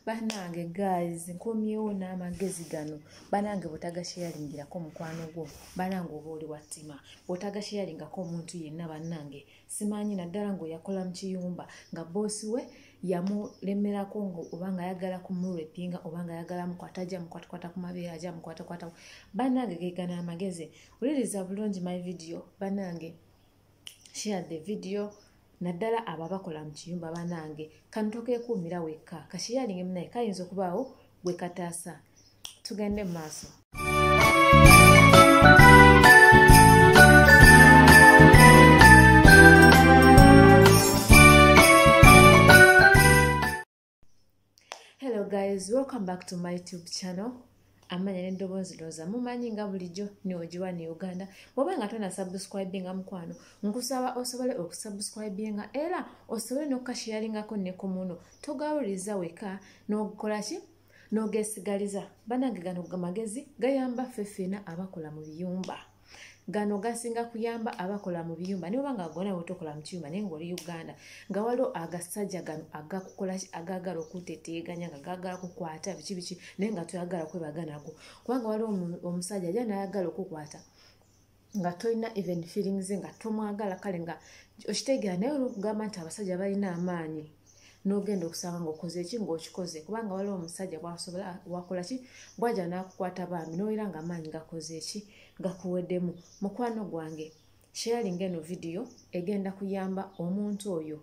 banange guys nkomyewo n'amagezi gano banange bwotagasheyalingirako mukwano gwo banange oba oli wattima bwotagasheyalingako omuntu yenna banange simanyi naddala ngaoyakola mu kiyumba nga boosi we yamulemerako oba nga ayagala kumurepinga oba nga ayagala mukwata aja mukwatakwata ku mabeere aja mukwatakwata banange gegana amagezi wuliriza bulungi my video banange share the video naddala abo abakola mu kiyumba banange kano tokekuumira wekka kashiyalinge munaye kayinza okubaawo gwe kataasa tugende mu maaso hello guys welcome back to my tube channel amanya n'eddoboozi looza mumanyi nga bulijjo neogiwa ne uganda bwoba nga tona subscribinga mukwano nkusaba osobole okusubscribinga era osobole nokukashiyalingako nekumuno togawuliza weka nokukola ki nogesigaliza banange gano magezi gayamba ffe ffena abakola mu biyumba gano gasinga kuyamba abakola mu biyumba niba nga gona wotokola mu kiyumba naye ngaoli uganda nga waliwo agasajja gano agakukola agagala okuteteeganya nga gagala kukwata biki biki naye nga toyagala kwebaganago kubanga waliwo omusajja aja nayagala okukwata nga tolina even feelings nga tomwagala kale nga okitegeera naye olwokugamba nti abasajja balina amaanyi nogenda okusanga ngaokoze eki ngaokikoze kubanga waliwo omusajja bwasobola wakola ki bwaja nakukwata bambi nowera nga amaanyi gakoze eki gakuweddemu mukwano gwange sharing eno vidiyo egenda kuyamba omuntu oyo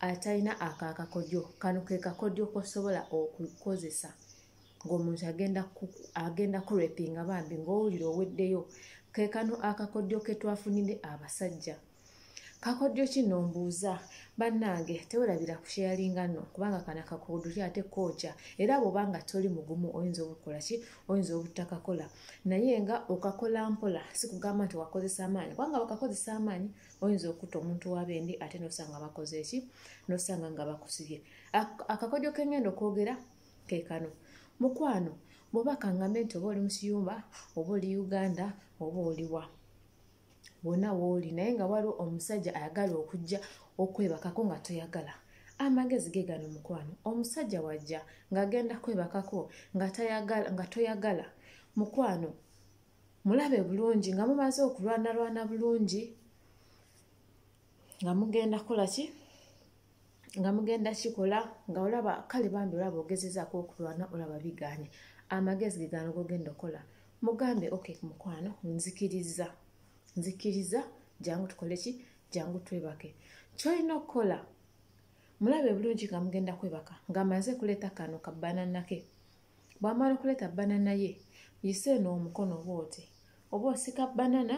atalina akaakakodyo kano kekakodyo kosobola okukozesa ng'omuntu agenda agenda kurepinga bambi ng'owulira oweddeyo ke kano akakodyo ke twafunide abasajja kakodyo kino mbuuza bannange tewerabira kusheyalinga no kubanga kana kakodyo ki ate kooja era bwoba nga toli mugumu oyinza obukola ki oyinza obutakakola naye nga okakola mpola sikugamba nti wakozesa amaanyi kubanga bakakozesa amaanyi oyinza okutta omuntu wabendi ate nosanga bakoze eki nosanga nga bakusibye akakodyo kengenda okwogera kekano mukwano bwoba kangambe nti oba oli musiyumba oba oli uganda oba oliwa wona wooli naye nga waliwo omusajja ayagala okujja okwebakako nga toyagala amagezi ge gano mukwano omusajja wajja ng'agenda kwebakako nga toyagala mukwano mulabe bulungi nga mumaze okulwanalwana bulungi nga mugenda kukola ki nga mugenda kikola nga olaba kale bambi olaba ogezezaako okulwana olaba biganye amagezi gegano gogenda okola mugambe ok mukwano nzikiriza nzikiriza jangu tukole ki jangu twebake kyolina okukola mulabe bulungi nga mugenda kwebaka nga maze kuleeta kano kabananake bwamala okuleeta banana ye yisa eno omukono oba oti oba osika banana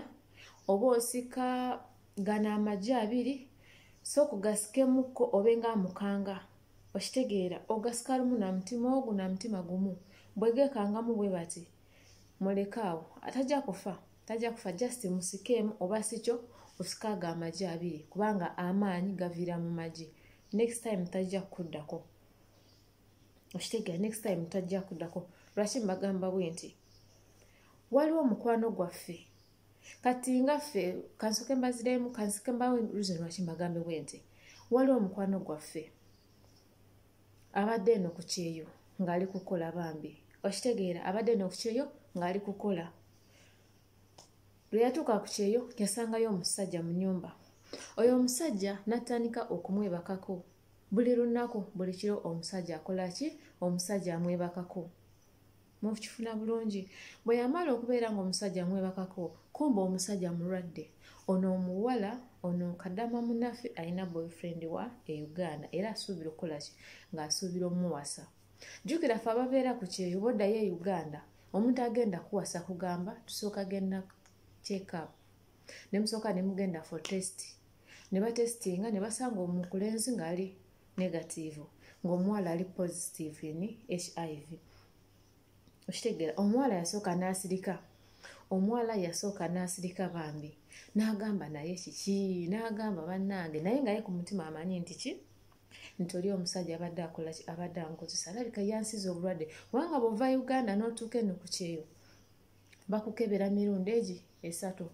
oba osika gano amagi abiri so kugasikemukko obe nga amukanga okitegeera ogasika lumu na mutima ogu na mutima gumu bwegekangamu bwe bati mulekaawo atajja kufa tajja kufa just musikeemu oba sikyo osikaaga amagi abiri kubanga amaanyi gaviira mu magi next time tajja kukuddako okitegera next time tajja kudako lwaki mbagamba bwe nti waliwo omukwano gwaffe kati nga ffe kansoke mbaziremu kansoke mbawo reason lwaki mbagambe bwe nti waliwo omukwano gwaffe abadde eno ku kyeyo ng'ali kukola bambi okitegeera abadde eno ku kyeyo ng'ali kukola lwe yatuuka ku kyeyo yasangayo omusajja mu nyumba oyo omusajja n'atandika okumwebakako buli lunaku buli kiro omusajja akola ki omusajja amwebakako mukifuna bulungi bwe yamala okubeera ngaomusajja amwebakako kumba omusajja mulwadde ono omuwala ono kadama munafe alina boyfriend wa e uganda era asuubira okukolaki ng'asuubira omuwasa jjukira fe ababeera ku kyeyo boddayo e uganda omuntu agenda kuwasa kugamba tusooka genda checkup ne musooka ne mugenda for test ne batestinga ne basanga omukulenzi ng'ali negatiivu ng'omuwala ali positive ni hiv okitegeera omuwala yasooka n'asirika omuwala yasooka n'asirika bambi n'agamba naye kiki n'agamba bannange naye nga ye ku mutima amanyi nti ki nti oli omusajja abadde akola abadde ankozesa alabika yansiza obulwadde kubanga bwova uganda n'otuuka eno ku kyeyo bakukebera mirundi egi esatu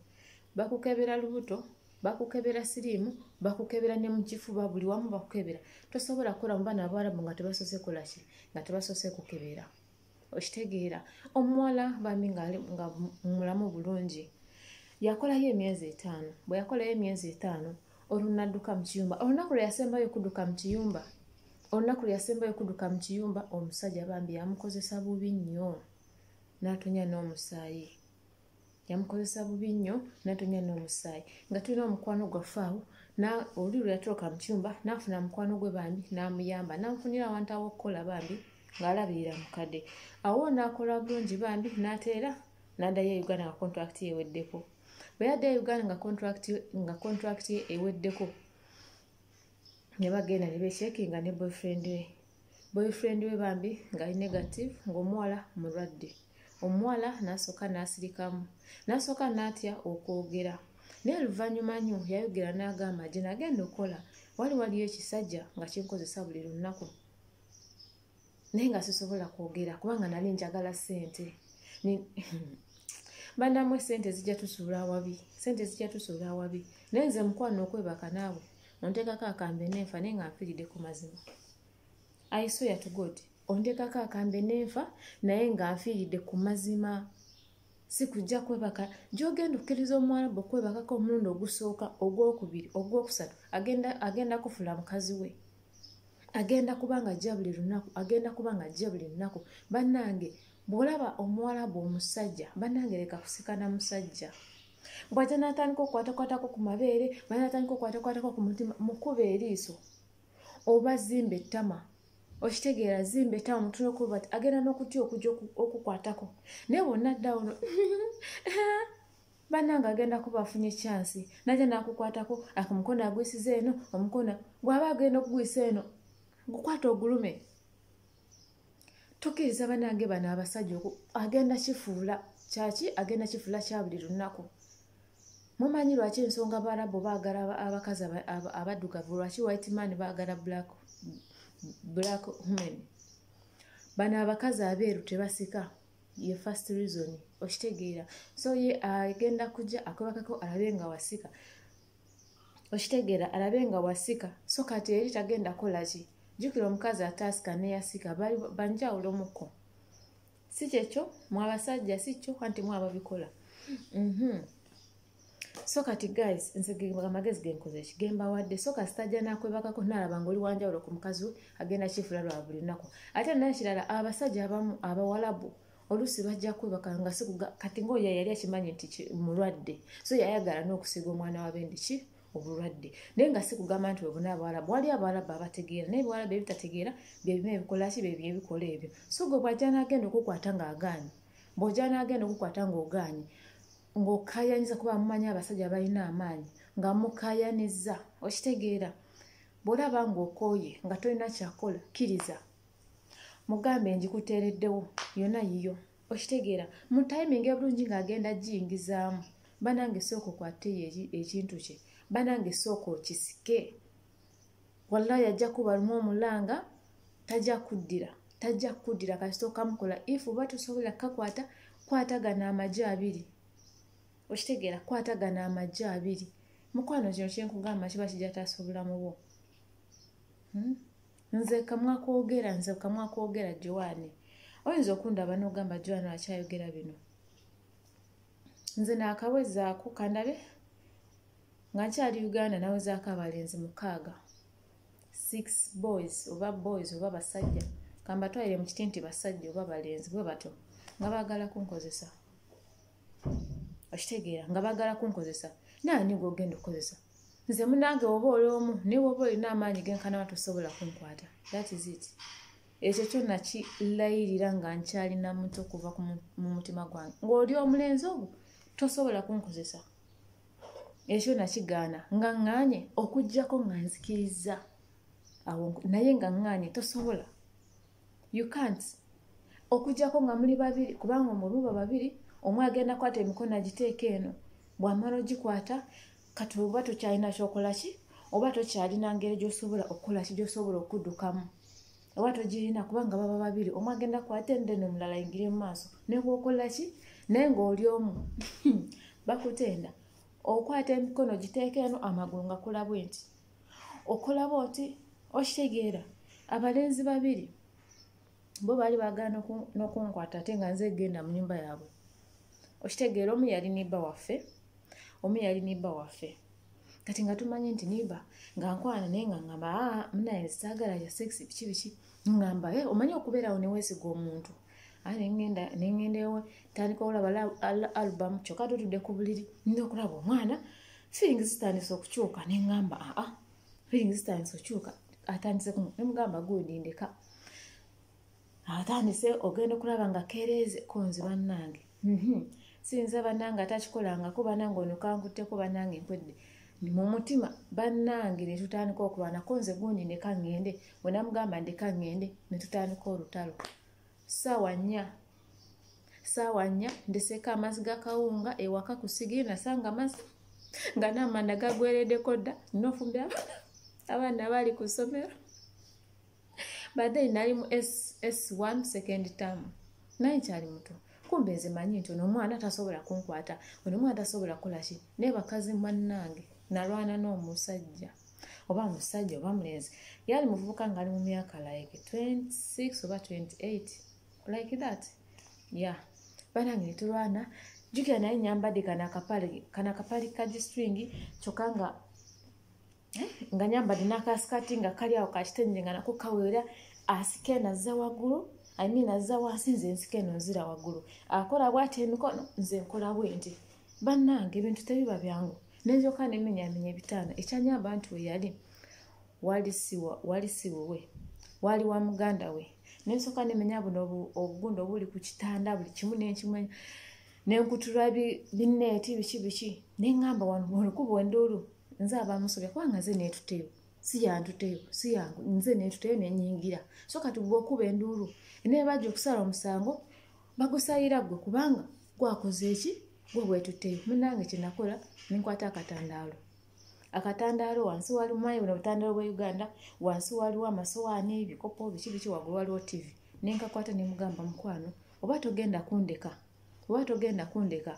bakukebera lubuto bakukebera siriimu bakukebera ne mukifuba buli wamu bakukebera tosobola kukola mu baana abawarabu nga tebasoose kolaki nga tebasoose kukebera okitegeera omuwala bambi nga mulamu bulungi yakolayo emyezi etaano bwe yakolayo emyezi etaano olunadduka mu kiyumba olunaku lwe yasembayo okuduka mu kiyumba olunaku lwe yasembayo okuduka mu kiyumba omusajja bambi yamukozesa bubi nnyo n'atonya n'omusaayi yamukozesa bubi nnyo n'atonya n'omusaayi nga tulina omukwano gwaffe awo oli lwe yatoloka mu kiyumba n'afuna mukwano gwe bambi n'amuyamba n'amufunira awantu aw'okukola bambi ng'alabirira mukadde awo n'akola bulungi bambi n'ateera n'addayo e uganda nga kontulakiti yeweddeko bwe yadda e uganda nga kontulakiti eweddeko ne bagenda ne bekyekinga ne boyfriend we boyfriend we bambi ngali negative ng'omuwala mulwadde omuwala n'asooka n'asirikamu n'asooka n'atya okwogera naye luvannyuma nnyo yayogera n'agamba gye nagenda okukola wali waliyo ekisajja nga kinkozesa buli lunnaku naye nga sisobola kwogera kubanga nali njagala ssente banamwe sente zijja tusuula awabi sente zijja tusuula awabi naye nze mukwano okwebaka naawe ontekako akambe nenfa naye nga nfiiride ku mazima aisoya to god ontekako akambe nenfa naye nga nfiiride ku mazima sikujja kwebaka gyogenda okkiriza omuwarabu okwebakako omulundi ogusooka ogwokubiri ogwokusatu agenda, agenda kufula mukazi we agenda kuba nga ajja buli lunaku agenda kuba nga ajja buli lunaku bannange bwolaba omuwarabu omusajja bannange leka kusikana musajja bwajja natandika okukwatakwatako ku mabeere bwajja natandika okukwatakwatako ku mutima mukuba eriiso oba zimba ettama okitegeera zimba ettama mutune okuba ti agenda n'okutya okujja okukwatako naye bwonna ddawo no bananga agenda kuba afunye kyansi najja nakukwatako ak omukono agwisiza eno omukono bwaba agenda okugwisa eno gukwata ogulume tukiriza banange bano abasajja oku agenda kifuula kyaki agenda kifuula kya buli lunaku mumanyi lwaki ensonga barabu baagala abakazi abaddugavu lwaki white man baagala black black human bano abakazi abeeru tebasika ye first reason okitegeera so ye agenda kujja akwebakako alabe nga wasika okitegeera alabe nga wasika so kati eri tagenda kolaki jjukira omukazi ataasika neyasika banjawulo muko si kyekyo mwabasajja si kyo anti mwababikola mhm. so kati guys nze amagezi genkozeki gembawadde so kasitajja nakwebakako nalaba nga oli wanjawulo ku mukazi we agenda kifuula lwa buli lunaku ate nakirala abasajja abamu abawalabu oluusi bajja kwebaka nga sikuga kati ngaoyo yali akimanyi nti mulwadde so yayagala n'okusiga omwana wa bendi ki obulwadde naye nga si kugamba nti webuna abawalabu wali abawalabu abategeera naye ebiwalabu ebitategeera byebimu ebikolaki byebyo ebikola ebyo so gwe bwajja nagenda okukwata ng'agaanyi bwojja nagenda okukwata ng'ogaanyi ng'okayanyiza kuba mumanyi abasajja balina amaanyi nga mukayaniza okitegeera bwolaba ng'okooye nga tolina kyakola kkiriza mugambe ngikuteereddewo yona yiyo okitegeera mu timingi ebulungi ng'agenda giyingizaamu banange sooka okwateyo ekintu kye banange sooka okisike wallahi ajja kuba lumu omulanga tajja kuddira tajja kuddira kasita okamukola if oba tosobola kukakwata kwatagana amagye abiri okitegeera kwatagana amagye abiri mukwano kino kyenkugamba kiba kijataasa obulamu bwo hmm? nze kamwa kwogera nze kamwa kwogera joani oyinza okundaba nogamba joani akyayogera bino nze naakawezaako kandabe nga nkyali uganda nawezaako abalenzi mukaaga six boys oba boys oba basajja kambatwalire mu kiti nti basajja oba balenzi bwe batyo nga baagala kunkozesa okitegeera nga bagala kunkozesa naani gwogenda okukozesa nze munange woba oli omu naye woba olina amaanyi genkanawa tosobola kunkwata that is it ekyo kyo nakilayirira nga nkyalina muto okuva mu mutima gwange ng'oli omulenzi ogwo tosobola kunkozesa ekyo nakigaana nga ŋŋaanye okugyako nga nzikiriza awo naye nga ŋŋaanye tosobola you can't okujjako nga muli babiri kubanga omuluba babiri omu agenda kwata emikono agiteeka eno bwamala ogikwata kati oba tokyalina kyokola ki oba tokyalina ngeri gyosobola okukola ki gyosobola okuddukamu oba togirina kubanga baba babiri omu agenda kwata ende nomulala ingiri mu maaso nebwokola ki naye ngaoli omu bakutenda okwata emikono giteeka eno amagulu ngakula bwenti okulaba oti okitegeera abalenzi babiri bo baali bagala nokunkwata ate nga nze genda mu nyumba yaabwe okitegeera omu yali nibba waffe omu yali nibba waffe kati nga tumanyi nti nibba nga nkwana naye nga ngamba ah, munaye saagala ya sekisi biki biki ngamba eh, omanyi okubeerawo newesiga omuntu aye nengenda nengenda ewe tandika olaba album kyoka tutude ku buliri nina okulaba omwana feeling zitandise okukyuka nengamba aa feeling zitandise okukyuka atandise kuno nemugamba gundi ndeka atandise ogenda okulaba nga kereeze konzi bannange Mhm. siyinza banange atakikolangako banange ono kankutteko banange nkwedde mu mutima banange ne tutandika okulwana ko nze gundi ndeka ŋŋende bwe namugamba ndeka ŋŋende ne tutandika olutalo saawa nnya saawa nnya ndeseeko amazzi gakawunga ewaka ku sigiri nasanga amazzi nga n'amanda gagweredeko dda nofumbira abaana baali ku ssomero but then nali mu s1 second term naye kyali muto kumbe nze manyi nti ono omwana tasobola kunkwata ono omwana tasobola kukolaki naye bakazi mannange nalwana n'omusajja oba musajja oba mulenzi yali muvubuka ngaali mu myaka like 26 oba 28 like that ya banange netulwana jukira naye nyambadde kana kapale kana kapale kagistringi kyokka nga eh, nga nyambadde n'akasikati nga kali awo kakitenje nga nako kaweera asika eno azza waggulu i mean azza wansi nze nsika eno nzira waggulu akola bwati emikono nze nkola bwenti bannange ebintu tebiba byangu nenzoka nemenyamenya ebitaano ekyanyamba nti weyali wali siwowe wali wa muganda we nensoka nemenya buno obugunda obuli ku kitanda buli kimu nenkimanya nenkutula bineeti biki biki nengamba wano olukuba enduulu nze abamusobya kuba nga nze netuteyo siyantuteyo siyangu nze netuteyo nenyingira so kati gwe okuba enduulu enaye bajja okusala omusango bagusayira gwe kubanga gwakoze eki gwe bwetuteyo munange kyenakola nenkwata akatandaalo akatandaalo wansi wali mumanyi buno obutandaalo bwa uganda wansi waliwo amasowaani ebikopo biki biki wagulu waliwo tivi nenkakwata nemugamba mukwano oba togenda kundeka oba togenda kundeka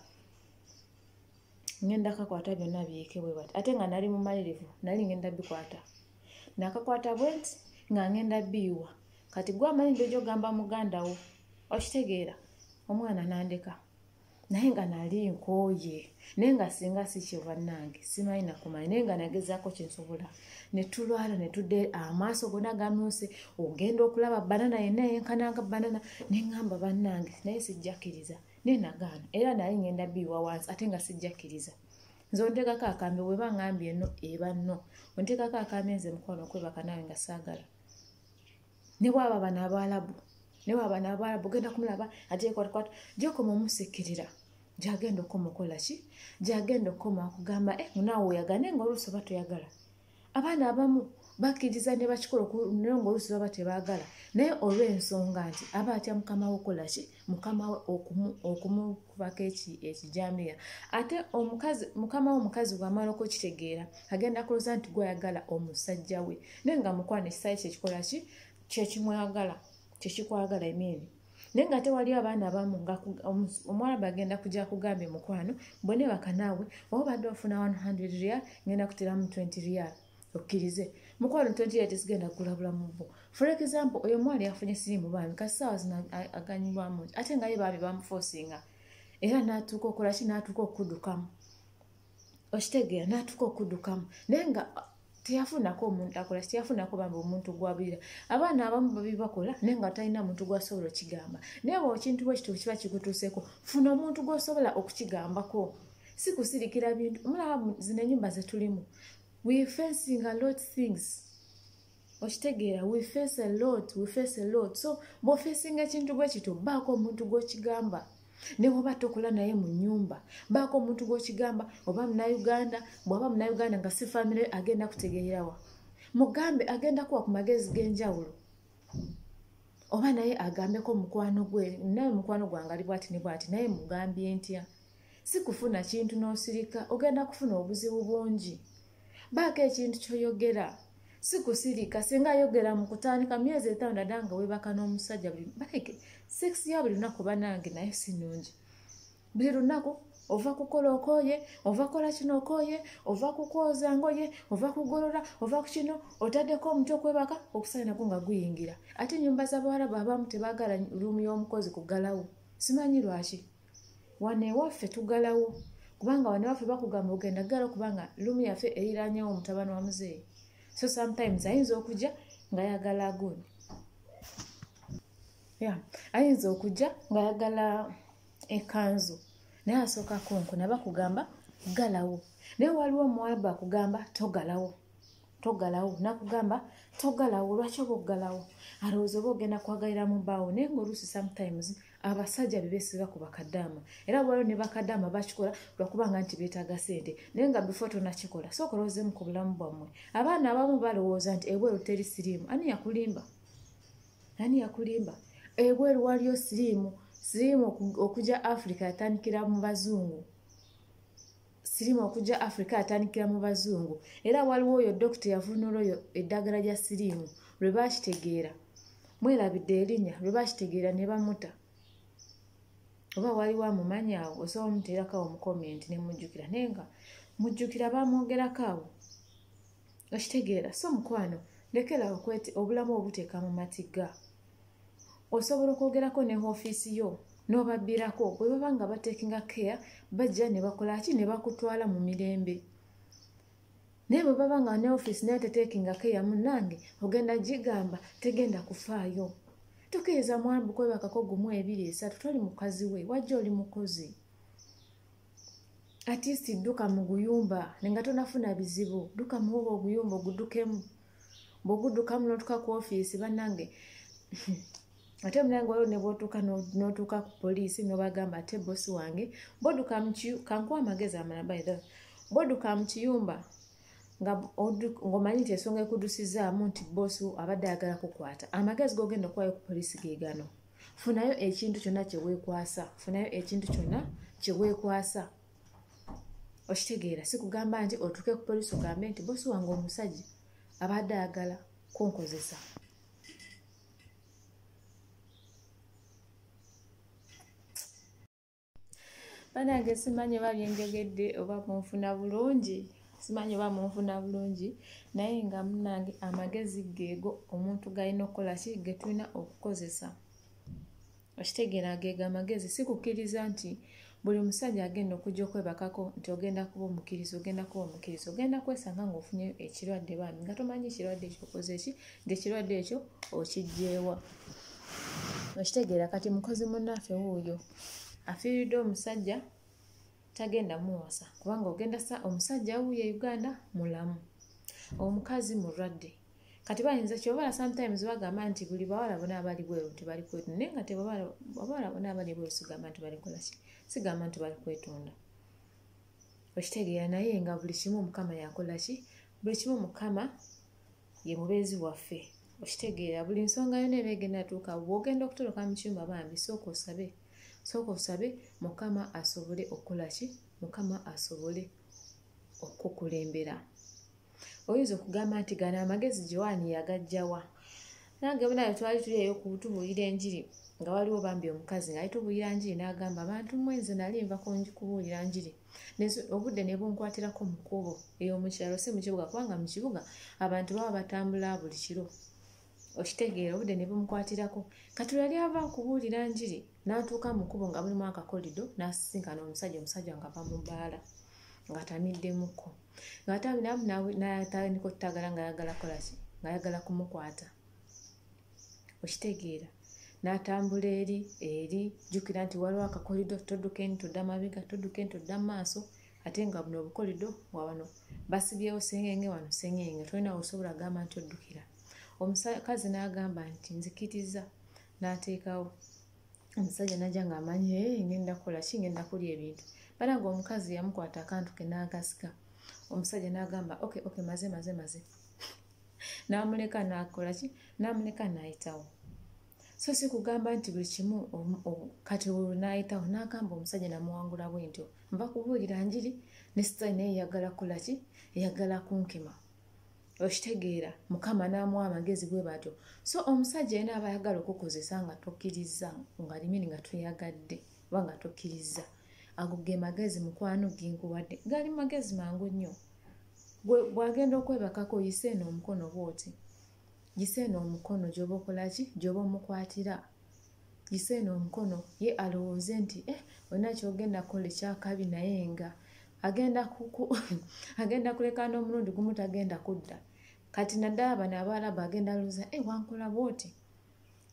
ngenda kakwata byonna byeke bwe bati ate nga nali mumalirivu nali ngenda bikwata nakakwata bwenti nga ngenda biyiwa kati gwe amanyi ndojo ogamba muganda wo okitegeera omwana nandeka naye nga nali nkooye naye nga singa sikyo bannange simanyi nakumanya naye nga nagezaako kyensobola netulwala netudde amaaso gona gamyuse ogenda okulaba banana yenna yenkananga banana neŋamba bannange naye sijjakiriza na naye nagaana era naye ngenda biiwa wansi ate nga sijjakkiriza nze onteekako akambe weba ngambi eno eba no onteekako akambe nze mukwano okwebaka nawe nga saagala ne bwaba bano abaalabu ne bwaba bano abaalabu ogenda kumulaba ajekwatkwat gyokoma omusikirira gyagenda okoma okola ki gyagenda okoma okugamba e eh, munaawe oyagane nga oluusi oba toyagala abaana abamu bakkiriza ne bakikola naye ngaolusi baba tebaagala naye olw'ensonga nti aba atya mukama we okola ki mukama we okumukubako ekijambiya ate omukazi mukama we omukazi bwamala okukitegeera agenda kuloza nti gwayagala omusajja we naye nga mukwana ekisaayi kyekikola ki kyekimwagala kyekikwagala emiini naye nga ate waliyo abaana abamu nga omuwarabu agenda kuja kugambye mukwano bone bakanaawe oba badde ofuna 100 real ngenda kuteramu 20 real okkirize mukwano 20 real tesigenda kugula bulamu bwo for example oyo omwana yafunye sirimu bambi kasi saawa zino aganyibwamu ate nga ye bambi bamufosinga era natuuka okolaki natuuka okudukamu okitegeera n'atuuka okudukamu naye nga teyafunako omuntu akola teyafunako bambi omuntu gwabira abaana abamu babi bakola naye nga talina muntu gwasobola okigamba naye bwe ekintu bwe kituufu kiba kigutuuseko funa omuntu gwosobola okukigambako si kusirikira bintu omulaba zino enyumba zetulimu we fencing a lot things okitegeera we face a lot we face a lot so bwofeesinga ekintu gwe kito baako omuntu gwokigamba newoba tokola naye mu nyumba baako omuntu gwokigamba oba munauganda bwaba munauganda nga si famire agenda kutegeerawa mugambe agenda kuwa ku magezi g'enjawulo oba naye agambeko mukwano gwe naye mukwano gwange ali bwati ne bwati naye mugambye ntya si kufuna kintu n'osirika ogenda kufuna obuzibu bungi baako ekintu kyoyogera sikusirika singa ayogera mu kutandika myezi etaano dada nga webaka n'omusajja buli baleke sekisi ya buli lunaku banange naye si nungi buli lunaku ova kukola okoye ova kola kino okoye ova kukwoza ngoye ova kugolola ova ku kino otaddeko omuti okwebaka okusainako nga guyingira ate enyumba z'abawarabu abamu tebagala lumu y'omukozi kugalawo simanyi lwaki wano ewaffe tugalawo kubanga wano ewaffe bakugamba ogenda galawo kubanga lumu yaffe eriranyewo omutabani wa muzeeyi so sometimes ayinza okujja nga yagala agundi ya ayinza okujja nga yagala ekanzu naye asooka konko nabakugamba galawo naye waliwo omuwalabu akugamba togalawo togalawo nakugamba togalawo lwaki oba okugalawo alowooza oba ogenda kwagalira mu baawo naye ngaoluusi sometimes abasajja bebesiba ku bakadaama era bwaliwo ne bakadaama bakikola lwakubanga nti beetaaga sente naye nga before tonakikola sooka olowoozemu ku bulamu bwammwe abaana abamu balowooza nti ebweru teri siriimu ani yakulimba ani yakulimba ebweru waliyo siriimu siriimu okugya africa yatandikira mu bazungu sirimu okujja africa atandikira mu bazungu era waliwo oyo dokita yavunula oyo eddagala lya sirimu lwe bakitegeera mwerabidde erinya lwe bakitegeera ne bamuta oba waliwo amumanyi awo osobola omuteerako awo mukomenti ne mujjukira naye nga mujjukira bamwogerako awo okitegeera so mukwano lekerawo obulamu obuteeka mu matiga osobola okwogerako ne ofiisi yo n'obabbirako bwe baba nga batekinga care bajja ne bakola ki ne bakutwala mu mirembe naye bwe baba nga ne ofiisi nayo tetekinga care munnange ogenda gigamba tegenda kufaayo tukkiriza mwambu kwebakako gumu ebiri esatu toli mukazi we wajja oli mukozi atiisi dduka mu guyumba nenga tonafuna bizibu dduka muwoba oguyumba ogudukemu bwogudukamu notuka ku ofiisi banange ate munange waliwo nebwotuuka notuuka ku poliisi nobagamba ate bosi wange boduka kankuwa amagezi amala by the boduka mu kiyumba ngaomanyi nti ensonga ekudusizaamu nti bosi abadde ayagala kukwata amagezi gogenda okuwayo ku poliisi gegano funayo ekintu kyonna kyewekwasa funayo ekintu kyonna kyewekwasa okitegeera sikugamba nti otuuke ku polisi ogambe nti bosi wange omusajja abadde ayagala kunkozesa banange simanyi oba byenjogedde oba munfuna bulungi simanyi oba munfuna bulungi naye nga munange amagezi geego omuntu galina okukola ki getulina okukozesa okitegeera ageega amagezi si kukkiriza nti buli musajja agenda okujja okwebakako nti ogenda kuba omukkiriza ogenda kuba omukkiriza ogenda kwesanga ng'ofunye ekirwadde baami nga tomanyi kirwadde ekyo okoze ki nti ekirwadde ekyo okijjeewa okitegeera kati mukozi munnaffe wuuyo afiiridde omusajja tagenda muwasa kubanga ogenda sa omusajja wuuyo e uganda mulamu omukazi mulwadde kati bayinza kyobala sometimes bagamba nti buli bawala bona abali bweru nti bali kwetu naye nga tebawala bona abali bweru sigamba nti bali kolaki sigamba nti bali kwetunda okitegeera naye nga buli kimu mukama yakola ki buli kimu mukama ye mubeezi waffe okitegeera buli nsonga yona eba egenda tuuka bwogenda okutoloka mu kyumba bambi sooka osabe sooka osabe mukama asobole okukola ki mukama asobole okukulembera oyinza okugamba nti gano amagezi joani yagajjawa nange munayo twali tuli eyo kutubuulira enjiri nga waliwo bambi omukazi ngaali tubuulira njiri n'agamba bantu mwenze nali nva kubuulira njiri obudde ne bunkwatirako mu kkubo eyo mu kyalo si mu kibuga kubanga mu kibuga abantu baba batambula buli kiro okitegeera obudde ne bumukwatirako kati lweyali ava okubuulira njiri n'atuuka mu kkubo nga mulimu akakolido n'asisinkana omusajja omusajja nga va mu bbaala ng'atamiddemukko ng'ate abiramu natandika otutagala ng'ayagala kolaki ng'ayagala kumukwata okitegeera n'atambula eri eri jjukira nti waliwo akakolido todduka eni todda mabega todduka eni todda maaso ate nga buno obukolido wawano basibyewo sengenge wano sengenge tolina osobola agamba nti oddukira omukazi n'agamba nti nzikiriza n'ateekawo omusajja najja ng'amanyi e eh, ngenda kukola ki ngenda kulya ebintu bala nga omukazi yamukwata akantu ke n'agasika omusajja n'agamba ok ok maze maze maze n'amuleka n'akola ki n'amuleka n'ayitawo so si kugamba nti buli kimu kati olwo n'ayitawo n'agamba omusajja namuwangula bwe ntyo nva kubuulira njiri ne sitaani naye eyagala kukola ki eyagala kunkima okitegeera mukama n'amuwa amagezi bwe batyo so omusajja yena aba ayagala okukozesa nga tokkirizza nga limini nga toyagadde oba nga tokkirizza ago ge magezi mukwano genkuwadde gali magezi mangu nnyo bwagenda okwebakako yise eno omukono bwoti yise eno omukono gyoba okolaki gyoba omukwatira yiseeno omukono ye alowooze nti eh, olina kyogenda kola ekyakabi naye nga agenda kuleka n'omulundi gumu tagenda kudda kati naddala bano abaalabu agenda luza e eh, wankola bwoti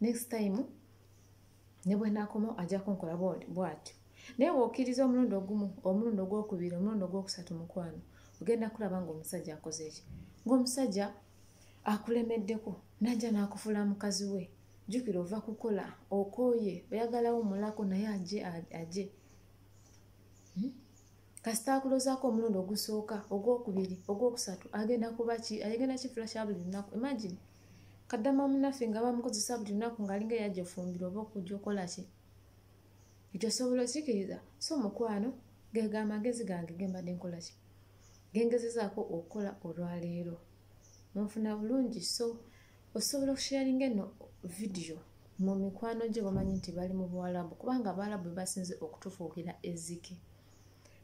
next time ne bwenakoma ajja kunkola bwatyo naye bwokiriza omulundi ogumu omulundi ogwokubiri omulundi ogwokusatu mukwano ogenda kulaba ngaomusajja akoze eki ngaomusajja akulemeddeko najja nakufuula mukazi we jukira ova kukola okoye oyagalawo mulako naye aje aje hmm? kasita akulozako omulundi ogusooka ogwokubiri ogwokusatu agenda kuba ki agenda kiflasha buli lunaku imagine kaddama munaffe nga bamukozesa buli lunaku ngaalinga eyajja ofumbira oba okujja okola ki ekyo osobola okikiriza so mukwano gega amagezi gange gembadde nkola ki gengezezaako okukola olwaleero munfuna bulungi so osobola okusharinga eno vidiyo mu mikwano gye bamanyi nti bali mu buwalabu kubanga abaalabu bebasinze okutufuukira ezike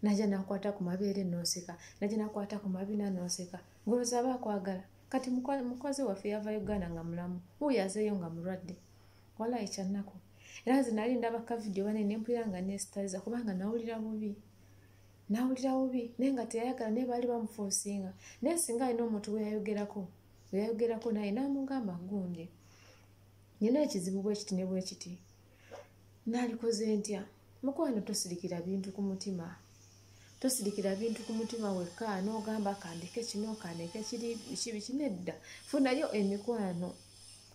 naja nakwata ku mabeere noseka naja nakwata ku mabina noseka ngoloza aba akwagala kati mukozi waffe yava uganda nga mulamu wuyo azeeyo nga mulwadde wala ekyannaku era nze nali ndaba kavidiyo bane nempulira nga nesitaliza kubanga nawulira bubi nawulira bubi naye nga teyayagala naye baali bamufuusinga naye singa alina omuntu weyayogerako eyayogerako naye n'amugamba gundi nina ekizibu bwekiti ne bwekiti naalikoze ntya mukwano tosirikira bintu ku mutima tosirikira bintu ku mutima wekka n'ogamba kandeke kino kandeke kiri biki biki nedda funayo emikwano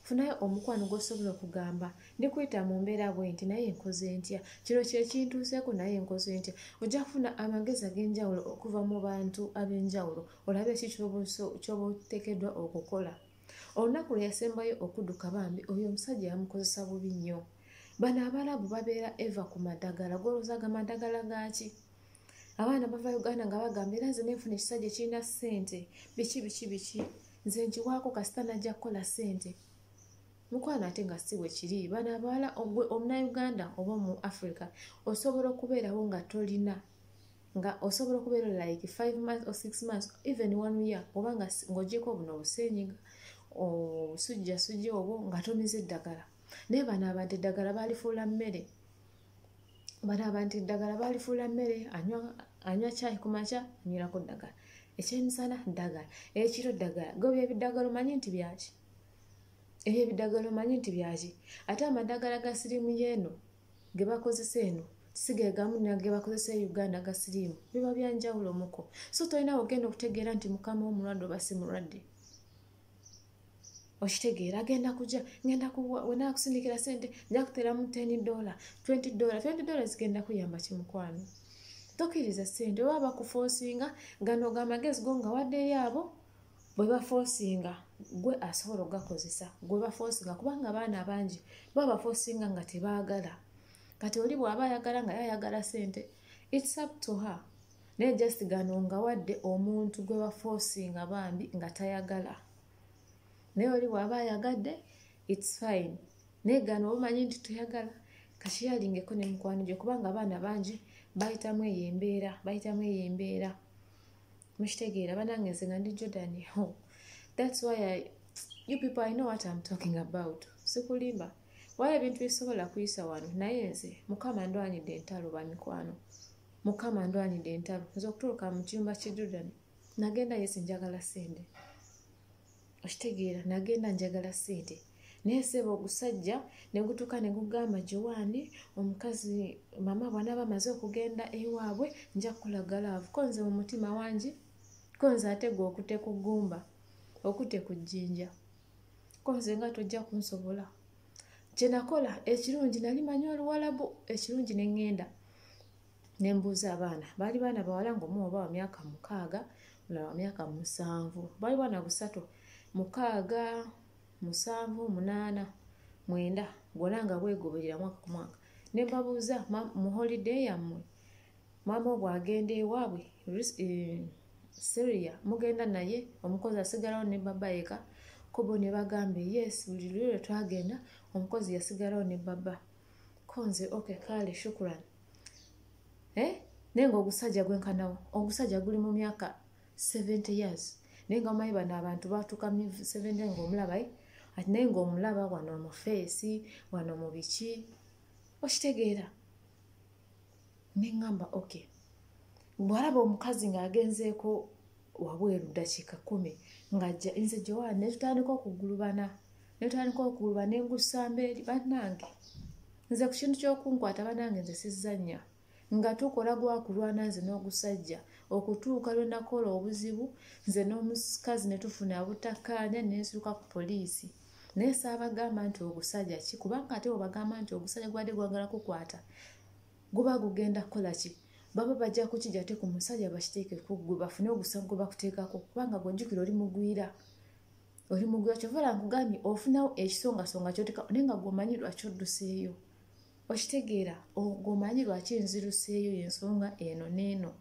funayo omukwano gwosobola okugamba ndikuyita mu mbeera bwe nti naye nkoze ntya kino kyekintuuseeko naye nkoze ntya ojja kufuna amagezi ag'enjawulo okuva mu bantu ab'enjawulo olabe ki kyoba otekeddwa okukola olunaku lwe yasembayo okuduka bambi oyo omusajja yamukozesa bubi nnyo bano abalabu babeera eva ku madagala golozaga madagala gaaki abaana bava uganda nga bagamba era nze nenfuna ekisajja ekirina sente biki biki biki nze nkiwaako kasita najja kukola sente mukwano ate nga si wekiri bano abawala ogwe omunauganda oba omu africa osobola okubeerawo nga tolina nga osobola okubeera like five months or six months even one year oba nga ng'ogyeko buno obusenyiga obusujjasujja obwo nga tomize eddagala naye bano abantu eddagala balifuula mmere balaba nti ddagala balifuula mmere anywa kyayi ku makya anywirako ddagala ekyemisana ddagala ekiro ddagala go byebiddagala omanyi nti byaki ebyo ebiddagala omanyi nti byaki ate amaddagala ga siriimu yeeno ge bakozesa eno sigegamu nage bakozesa e uganda ga siriimu biba byanjawulo muko so tolina wogenda okutegeera nti mukama omulwadde oba si mulwadde okitegeera agenda kuja ngenda kuwa wena akusindikira sente nja kuteramu 10 dola 20 dola 20 dola zigenda kuyamba kimukwano tokiriza sente oba bakufosinga gano gamagezi go nga waddeyo abo bwe bafosinga gwe asobola okugakozesa gwe bafosinga kubanga abaana bangi ba bafosinga nga tebaagala kati oli bw'aba ayagala nga yayagala sente its up to her naye just gano nga wadde omuntu gwe bafosinga bambi nga tayagala naye oli bwaba ayagadde its fine naye gano obumanyi nti toyagala kakiyalingeko ne mukwano gye kubanga abaana bangi bayitamu eyo embeera bayitamu eyo embeera mukitegeera banange nze nga ndi jordan ho thats why I, you people i know what im talking about sikulimba why ebintu bisobola kuyisa wano naye nze mukama ndwanidde entalo bamikwano mukama ndwanidde entalo nze okutuuka mu kiyumba kye jordan nagenda yesi njagala sente okitegeera nagenda njagala sente naye seeba ogusajja negutuuka negugamba jowani omukazi mama bwanaba amaze okugenda ewaabwe nja kukulaga laavu konze mu mutima wangi konze ate gwe okute ku ggumba okute ku jjinja konze nga tojja kunsobola kyenakola ekirungi nali manyi oluwalabu ekirungi neŋŋenda ne mbuuza abaana baali baana bawala ngaomu oba wa myaka mukaaga mulala wa myaka musanvu baali baana busatu mukaaga musanvu munaana mwenda gwona nga bwegoberera mwaka ku mwaka ne mbabuuza mu holiday yammwe maama obw agenda ewaabwe eh, syria mugenda naye omukozi asigalawo ne baba yeka kubo ne bagambye yes buli lwelwe twagenda omukozi yasigalawo ne baba konze oke kaale shukuran eh? naye nga ogusajja gwenkanawo ogusajja guli mu myaka 70 years naye nga omanyi bano abantu batuuka mu 70 ngaomulabae ati naye ngaomulaba wano omufeesi wano mu biki okitegeera neŋŋamba ok bwalaba omukazi ng'agenzeeko wabweru ddakiika kumi ng'ajja nze jowaani ne tutandika okugulubana ne tutandika okuguluba ne ngusamba eri bannange nze ku kintu ky'okunkwata bannange nze sizzannya nga tukola gwakulwana nze n'ogusajja okutuuka lwe nakola obuzibu nze n'omukazi ne tufuna abutakkaanya ne nsiruka ku poliisi naye saabagamba nti ogusajja ki kubanga ate webagamba nti ogusajja gwade gwagala kukwata guba gugenda kukola ki baba bajja kukija te ku musajja bakiteeke kuggwe bafune ogusago gwe bakuteekako kubanga gwejjukira oli mugwira oli mugwira kyova la nkugambye ofunawo ekisongasonga kyoteka naye nga gwomanyi lwaki odduseeyo okitegeera ogwo omanyi lwaki nziruseeyo yensonga eno neeno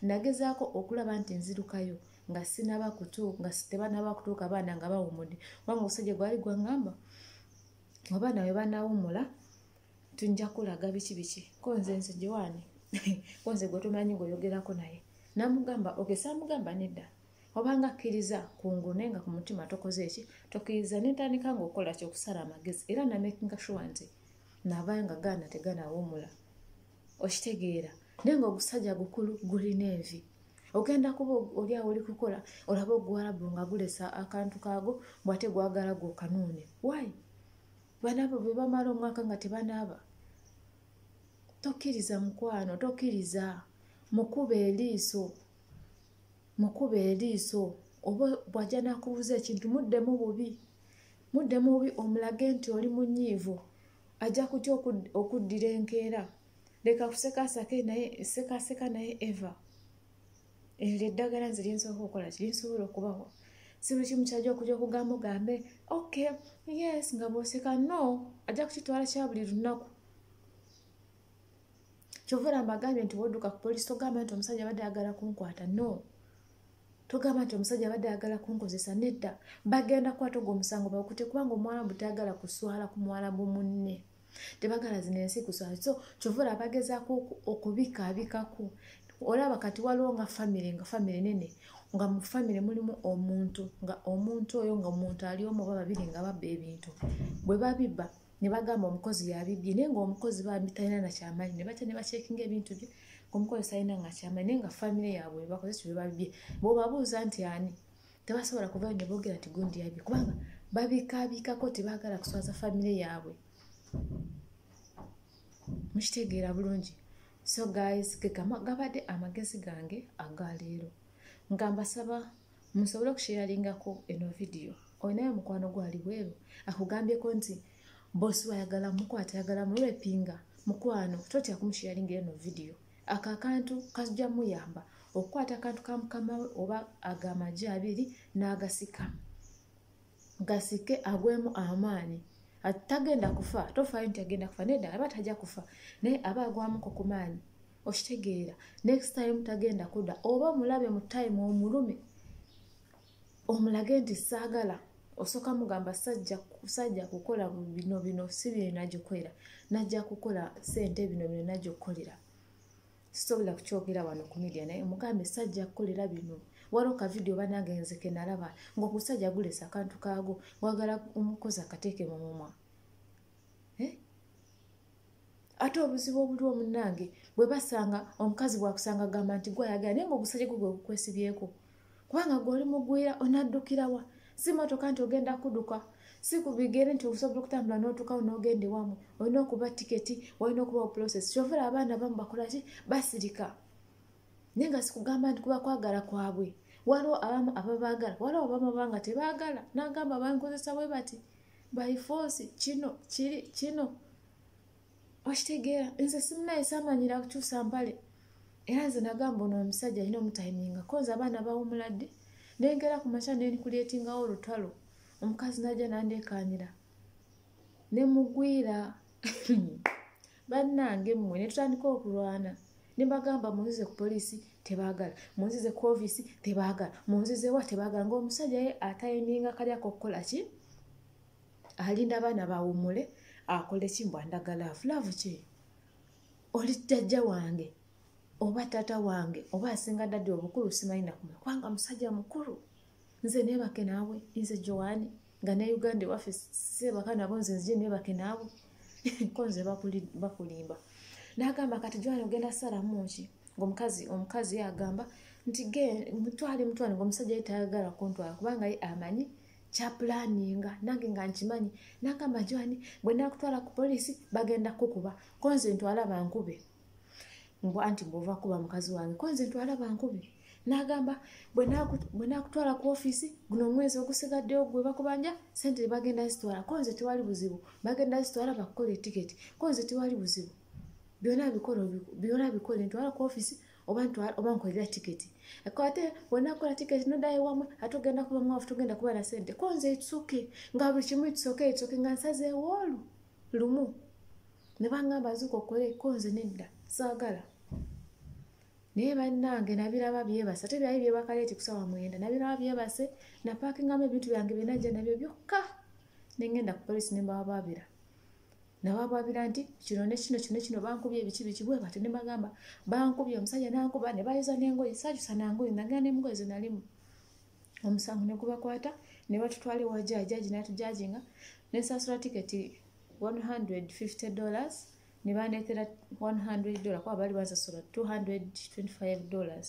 nagezaako okulaba nti nzirukayo nga sinaba kutu nga tebanaba kutuuka abaana nga bawumudde kubanga omusajja gwali gwangamba abaana we banawumula tunja kulaga biki biki konze nze jowaani konze gwe tumanyi ngaoyogerako naye namugamba ogesamugamba nedda obanga akkiriza kungune nga ku mutima tokoze eki tokiriza nentandika ngaokukola kyokusala amagezi era namakinga shuwa nti nabaya nga gaana teganawumula okitegeera naye nga ogusajja gukulu gulina envi ogenda kuba olyawo oli kukola olaba oguwalabu nga gulesa akantu kaago bwate gwagala gwe okanuune wayi banaabo bwe bamala omwaka nga tebanaaba tokkiriza mukwano tokkiriza mukuba eriiso mukuba eriiso oba bwajja nakubuuza ekintu muddemu bubi mudde mubi omulage nti oli munyiivu ajja kutya okuddira enkeera leka kusekasake naye sekaseka naye eva eryo eddagala nze linsobola okukola ki linsobola okubawa si buli kimu kyajja okuja okugamba ogambe ok yes nga bwoseka no ajja kukitwala kya buli lunaku kyovula mbagambye nti woduka ku polisi togamba nti omusajja abadde agala kunkwata no togamba nti omusajja abadde ayagala kunkozesa nedda bagenda kukwata ogwo omusango bakute kubanga omuwalabu tayagala kuswala ku muwalabu munne tebagala zino ensi kuswala so kyovula abagezaako okubikaabikaku olaba kati waliwo nga famire nga famire nene nga mu famire mulimu omuntu nga omuntu oyo nga omuntu ali omu oba babiri nga babba ebintu bwe babibba ne bagamba omukozi yabibbye naye ngaomukozi bambi talina nakyamaanyi ne batya ne bakyekinga ebintu bye ngaomukozi talina nga kyamaanyi naye nga famire yaabwe bakoze ekyo bebabibbye bwebabuuza nti ani tebasobola kuvayo ne boogera nti gundi yabye kubanga babikaabikako tebaagala kuswaza famire yaabwe mukitegeera bulungi so guys gegabadde amagezi gange agaleero nga mbasaba musobole okusheyaringako eno vidiyo olinayo mukwano gwali bweru akugambyeko nti bosi wayagala mukwata ayagala mulwepinga mukwano totya kumusheyaringa eno vidiyo ako akantu kajja muyamba okukwata akantu ka mukama we oba agamagi abiri n'agasika gasike agwemu amaanyi tagenda kufa tofaayo nti agenda kufa naye ddala aba tajja kufa naye aba agwamuko ku maanyi okitegeera next time tagenda kuda oba omulabe mu time omulume omulage nti saagala osooka mugamba sajja kukola bino bino si bino nagikolera najja kukola sente bino bino najja okukolera sisobola kukyogera wano ku media naye omugambe sajja kukolera bino waliwo kavidiyo banange nzeke nalaba ngaokusajja gulesa akantu kaago wagala omukozi akateeke mu mumwa eh? ate obuzibu obuli omunange bwe basanga omukazi bwakusanga gamba nti gwayagala naye ngaogusaja gwe gwe gukwesibyeko kubanga gwe oli mugwira onaddukirawa si motoka nti ogenda kuduka si kubigere nti osobola okutambula n'otukawo n'ogenda ewamu olina okuba tiketi walina okuba oprocess kyovula abaana bamu bakola ki basirika naye nga sikugamba nti kuba kwagala kwabwe waliwo abamu ababaagala waliwo abamu abanga tebaagala nagamba bankozesa bwe bati by force kino kiri kino okitegeera nze simunaye samanyira kukyusa mpale era nze nagamba ono omusajja alina omutaiminga koza abaana bawumuladde nengera ku makya nenkulietingawo olutalo omukazi naja nandekanira nemugwira bannange mmwe ne tutandika okulwana ne bagamba munzize ku poliisi tebaagala munzize ku ofiisi tebaagala munzize wa tebaagala ng'omusajja ye atayiminga kali akokukola ki alinda abaana bawumule akole ki mbu andagala afulavu ki oli jjajja wange oba taata wange oba asinga dadi obukulu simanyi nakumwe kubanga musajja mukulu nze nebake naawe nze joani nga ne uganda ewaffe sebaka nabo nze nzije nebake naawe ko nze bakulimba nagamba kati joani ogenda salamu ki ngaomukazi omukazi yagamba nti ge mutwale mutwale ngaomusajja ye tayagala kuntwala kubanga ye amanyi kyapulaninga nange nga nkimanyi nagamba joani bwenakutwala ku polisi bagenda kukuba ko nze ntwala bankube mbu anti mbu ovakuba mukazi wange kwenze ntwala bankubi nagamba bwenakutwala ku ofiisi guno omwezi ogusigaddewo gwe bakubanja sente bagenda zitwala konze tewali buzibu bagenda zitwala bakukola etiketi konze tewali buzibu byona bikola byona bikola ntwala ku ofiisi oba ntwala oba nkolera tiketi ate bwenakola tiketi nodayo wamwe ate ogenda kuba mwafu togenda kuba na sente konze itusoke nga buli kimu itusoke itusoke nga nsazeewoolu lumu ne bangamba nzuka okole ko nze nedda saagala naye bannange nabiraba byebase ate byali byebakaleeti kusawa mwenda nabiraba byebase napakingamu ebintu byange byenajja nabyo byokka nengenda ku polisi nembawabaabira nababaabira nti kino nekino kino kino bankubye ebiki biki bwe bati nebagamba bankubye omusajja nankuba nebayiza nengoye sajusa nangoye nagenda nemugoye zenalimu omusango ne gubakwata ne batutwala ewa jaaji jaaji n'atujaajinga ne nsasula tiketi 150 dollars ne bandeetera 100 dollar kuba baali bansasula 225 dollars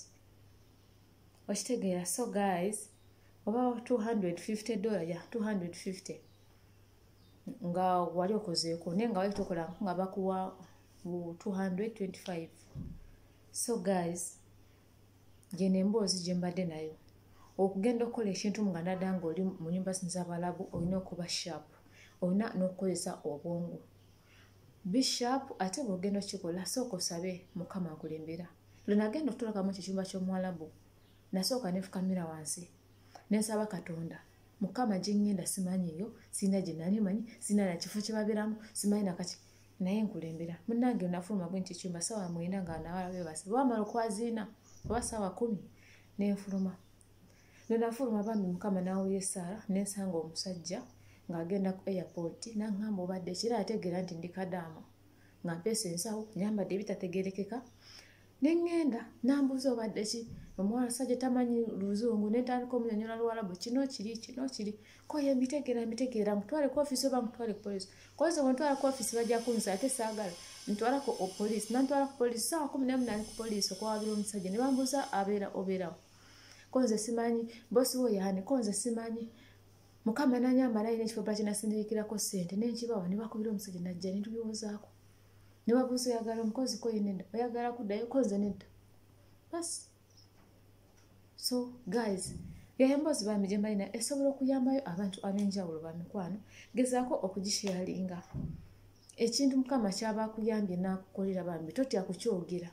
okitegeera so guys oba 250 dollar ya 250 nga wali okozeeko naye nga wali tokola nga bakuwa 225 so guys gyeno emboozi gye mbadde nayo okugenda okukola ekintu nga nada nga oli mu nyumba zino zabalabu olina okuba sharp olina n'okukozesa obwongo bisharp ate bwogenda okikola sooka osabe mukama akulembera lwenagenda okutulakamu ekyo ekyumba ky'omuwalabu nasooka nefukamira wansi nensaba katonda mukama gyengenda simanyiyo sirina gyenali manyi sirina nakifo kyebabiramu simanyi nakaki naye nkulembera munange nafuluma gwe nti ekyumba sawa mwenda nga nawala bebasa bwamala okwaziina oba sawa kumi nenfuluma nenafuluma bambi mukama nawulira esaala nensanga omusajja ng'agenda ku airport nangamba obadde kira ategeera nti ndi kadaama nga mpeesa ensawo nyambadde ebitategerekeka ne ŋŋenda n'ambuuza obadde ki omuwala sajja tamanyi luzungu nentandika omunyonyola luwalabu kino kiri kino kiri koye mbitegeera mbitegeera mutwale ku ofisi oba mutwale ku polisi koze wentwala ku ofisi bajja kunza ate saagala ntwala ku opolisi nantwala ku polisi saawa kumi nemu nali ku polisi okwawabira omusajja ne bambuuza abeera obeerawo konze simanyi bosi wo yaani konze simanyi mukama nanyambalayo nekifo bakinasindikirako sente nenkibawa nebakubira omusajja najja netubiwozaako ne babuuza oyagala omukozi ko yenedda oyagala kuddayo koze nedda bas so guys yayamboozi bambi gye mbalina esobola okuyambayo abantu ab'enjawulo ba mikwano gezaako okugisheyalinga ekintu mukama kyaba akuyambye n'akukolera bambi totya kukyogera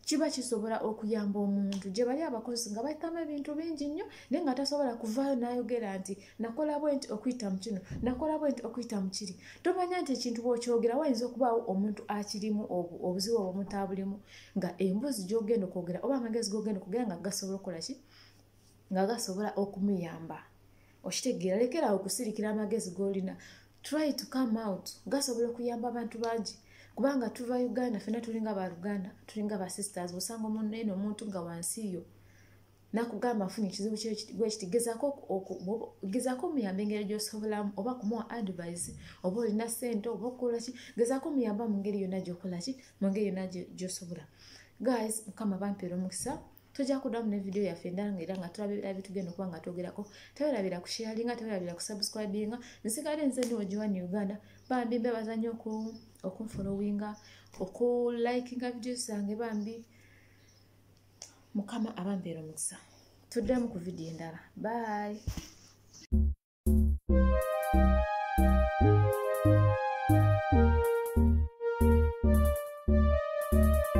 kiba kisobola okuyamba omuntu gye bali abakozi nga bayitamu ebintu bingi nnyo naye nga tasobola kuvaayo n'ayogera nti nakola bwe nti okuyita mu kino nakola bwe nti okuyita mu kiri tomanya nti ekintu bw'okyogera wayinza okubaawo omuntu akirimu obuzibu obwo omuntu abulimu nga emboozi gy'ogenda okwogera oba amagezi g'ogenda okugera nga gasobola okukola ki nga gasobola okumuyamba okitegeera lekerawo okusirikira amagezi golina try to come out gasobola okuyamba abantu bangi kubanga tuva uganda fena tulinga baluganda tulinga basisters osanga omunene omuntu nga wansi yo nakugamba afunye ekizibu gwekiti gezako omuyamba engeri gyosobolamu oba kumuwa advise oba olina sente oba okukolaki gezako omuyamba mu ngeri yona gyokolaki mu ngeri yona gyosobola guys mukama bampeera omukisa tujja kuddamu ne vidiyo yaffe endala nga era nga tulaba ebira bitugenda okuba nga twogerako tewerabira kusharinga tewerabira kusubscribinga nsigale nze ndi ogiwani uganda bambi mbebaza nnyo okunfolowinga okulikinga vidiyo zange bambi mukama abambeera omukisa tuddemu ku vidiyo endala bye